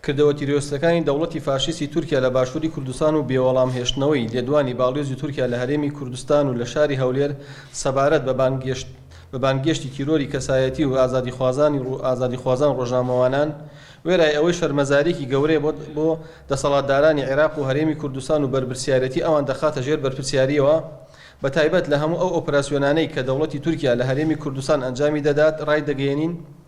کردەوە تیرۆرستەکانی دەوڵەتی فاشیستی تورکیا لە باشووری کوردستان و بێوەڵام هێشتنەوەی لێدوانی باڵیۆزی تورکیا لە هەرێمی کوردستان و لە شاری هەولێر سەبارەت بە بانگێشت بە بانگێشتی تیرۆری کەسایەتی و ئازادیخوازانی ڕو ئازادیخوازان ڕۆژنامەوانان وێرای ئەوەی شەرمەزاریەکی گەورەیە بۆ بۆ دەسەڵاتدارانی عێراق و هەرێمی کوردستان و بەرپرسیارێتی ئەوان دەخاتە ژێر بەرپرسیاریەوە بە تایبەت لە هەموو ئەو ئۆپراسیۆنانەی کە دەوڵەتی تورکیا لە هەرێمی کوردستان ئەنجامی دەدات ڕایدەگەیەنین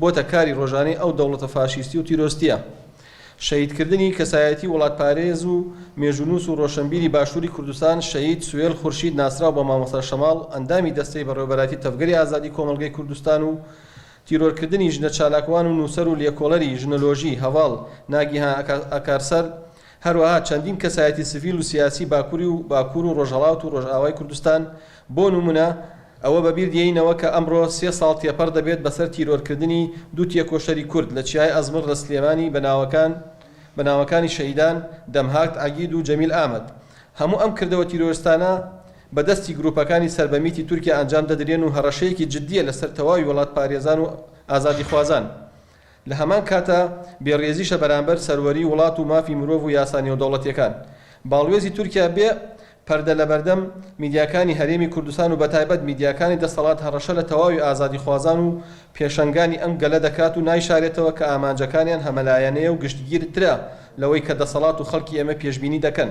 بۆتە کاری ڕۆژانەی ئەو دەوڵەتە فاشیستی و تیرۆستیە. شەهید کردنی کەسایەتی وڵات پارێز و مێژوونووس و ڕۆشەنبیری باشووری کوردستان شەهید سوێل خورشید ناسراو بە مامۆستا شەماڵ ئەندامی دەستەی بەڕێوەبەرایەتی تەڤگەری ئازادی کۆمەڵگەی کوردستان و تیرۆر کردنی ژنە چالاکوان و نووسەر و لێکۆڵەری ژنۆلۆژی هەڤاڵ ناگیهان ئاکارسەر هەروەها چەندین کەسایەتی سڤیل و سیاسی باکوری و باکوور و ڕۆژهەڵات و ڕۆژئاوای کوردستان بۆ نموونە ئەوە بە بیر دێینەوە کە ئەمڕۆ سێ ساڵ تێپەڕ دەبێت بە سەر تیرۆرکردنی دوو تێکۆشەری کورد لە چیای ئەزمڕ لە سلێمانی بە ناوەکان بە ناوەکانی شەهیدان دەمهاکت عەگید و جەمیل ئامەد. هەموو ئەم کردەوە تیرۆرستانە بە دەستی گروپەکانی سەر بە میتی تورکیا ئەنجام دەدرێن و هەڕەشەیەکی جدیە لە سەر تەواوی وڵاتپارێزان و ئازادیخوازان. لە هەمان کاتدا بێ ڕێزیشە بەرامبەر سەروەری وڵات و مافی مرۆڤ و یاسا نێودەوڵەتیەکان. باڵوێزی تورکیا بێ پەردە لە بەردەم میدیاکانی هەرێمی کوردستان و بەتایبەت میدیاکانی دەسەڵات هەڕەشە لە تەواوی ئازادیخوازان و پێشەنگانی ئەم گەلە دەکات و نایشارێتەوە کە ئامانجەکانیان هەمەلایەنەیە و گشتگیر ترە لەوەی کە دەسەڵات و خەڵکی ئێمە پێشبینی دەکەن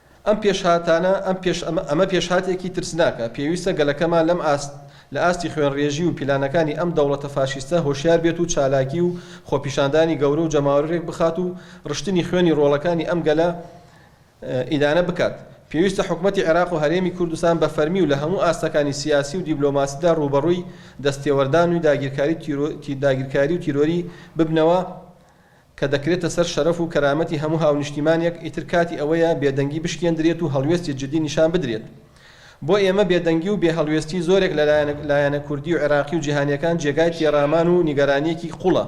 ئەم پێشهاتانە ئەم پێش ئەمە پێشهاتێکی ترسناکە، پێویستە گەلەکەمان لەم ئاست لە ئاستی خوێنڕێژی و پیلانەکانی ئەم دەوڵەتە فاشیستە هۆشیار بێت و چالاکی و خۆپیشاندانی گەورە و جەماوەری رێک بخات و رشتنی خوێنی رۆڵەکانی ئەم گەلە ئیدانە بکات. پێویستە حکومەتی عێراق و هەرێمی کوردستان بە فەرمی و لە هەموو ئاستەکانی سیاسی و دیبلۆماسیدا رووبەڕووی دەستێوەردان و داگیرکاری و تیرۆری ببنەوە کە دەکرێتە سەر شەرەف و کەرامەتی هەموو هاونیشتیمانێک، ئیتر کاتی ئەوەیە بێدەنگی بشکێندرێت و هەڵوێستی جدی نیشان بدرێت. بۆ ئێمە بێدەنگی و بێ هەڵوێستی زۆرێک لە لایەنە کوردی و عێراقی و جیهانیەکان جێگای تێڕامان و نیگەرانیەکی قوڵە.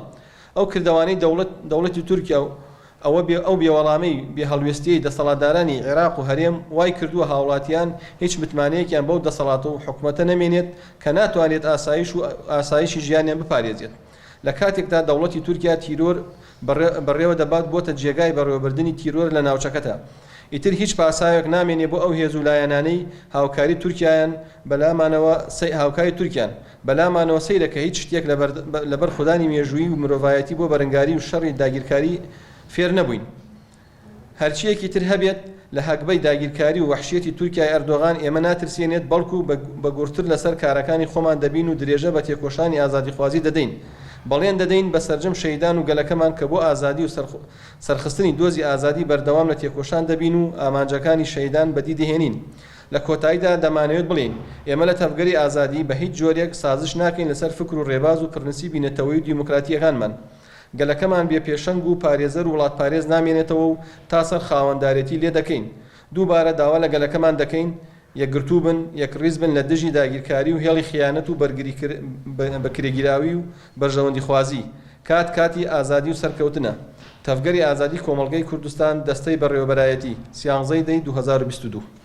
ئەو کردەوانەی دەوڵەت دەوڵەتی تورکیا و ئەوە بێ ئەو بێوەڵامەی بێ هەڵوێستیەی دەسەڵاتدارانی عێراق و هەرێم وای کردووە هاوڵاتیان هیچ متمانەیەکیان بەو دەسەڵات و حکومەتە نەمێنێت کە ناتوانرێت ئاسایش و ئاسایشی ژیانیان بپارێزێت. لە کاتێکدا دەوڵەتی تورکیا تیرۆر بەڕێوە دەبات بۆتە جێگای بەڕێوەبردنی تیرۆر لە ناوچەکەتا ئیتر هیچ پاساوێک نامێنێ بۆ ئەو هێزو لایەنانەی هاوکاری تورکیایان بەلامانەوە هاوکاری تورکیان بەلامانەوە سەیرە کە هیچ شتێک لە بەرخودانی مێژوویی و مرۆڤایەتی بۆ بەرنگاری و شەڕی داگیرکاری فێر نەبووین. هەرچییەکی تر هەبێت، لە هەگبەی داگیرکاری و وەحشیەتی تورکیای ئەردۆغان ئێمە ناترسێنێت، بەڵکو بە گوڕتر لەسەر کارەکانی خۆمان دەبین و درێژە بە تێکۆشانی ئازادیخوازی دەدەین. بەڵێن دەدەین بە سەرجەم شەهیدان و گەلەکەمان کە بۆ ئازادی و سەرخستنی دۆزی ئازادی بەردەوام لە تێکۆشان دەبین و ئامانجەکانی شەهیدان بەدی دەهێنین. لە کۆتاییدا دەمانەوێت بڵێین، ئێمە لە تەڤگەری ئازادی بە هیچ جۆرێک سازش ناکەین لەسەر فکر و رێباز و پرنسیبی نەتەوەیی و دیموکراتییەکانمان. گەلەکەمان بێ پێشەنگ و پارێزەر و وڵاتپارێز نامێنێتەوە و تا سەر خاوەندارێتی لێ دەکەین. دووبارە داوا لە گەلەکەمان دەکەین یەکگرتوو بن، یەکڕیز بن لە دژی داگیرکاری و هێڵی خیانەت و بەرگریکرێگیراوی و بەرژەوەندیخوازی. کات کاتی ئازادی و سەرکەوتنە. تەڤگەری ئازادی کۆمەڵگەی کوردستان دەستەی بەڕێوەبەرایەتی، سیانزەی دەی دوو هەزار و بیست و دوو.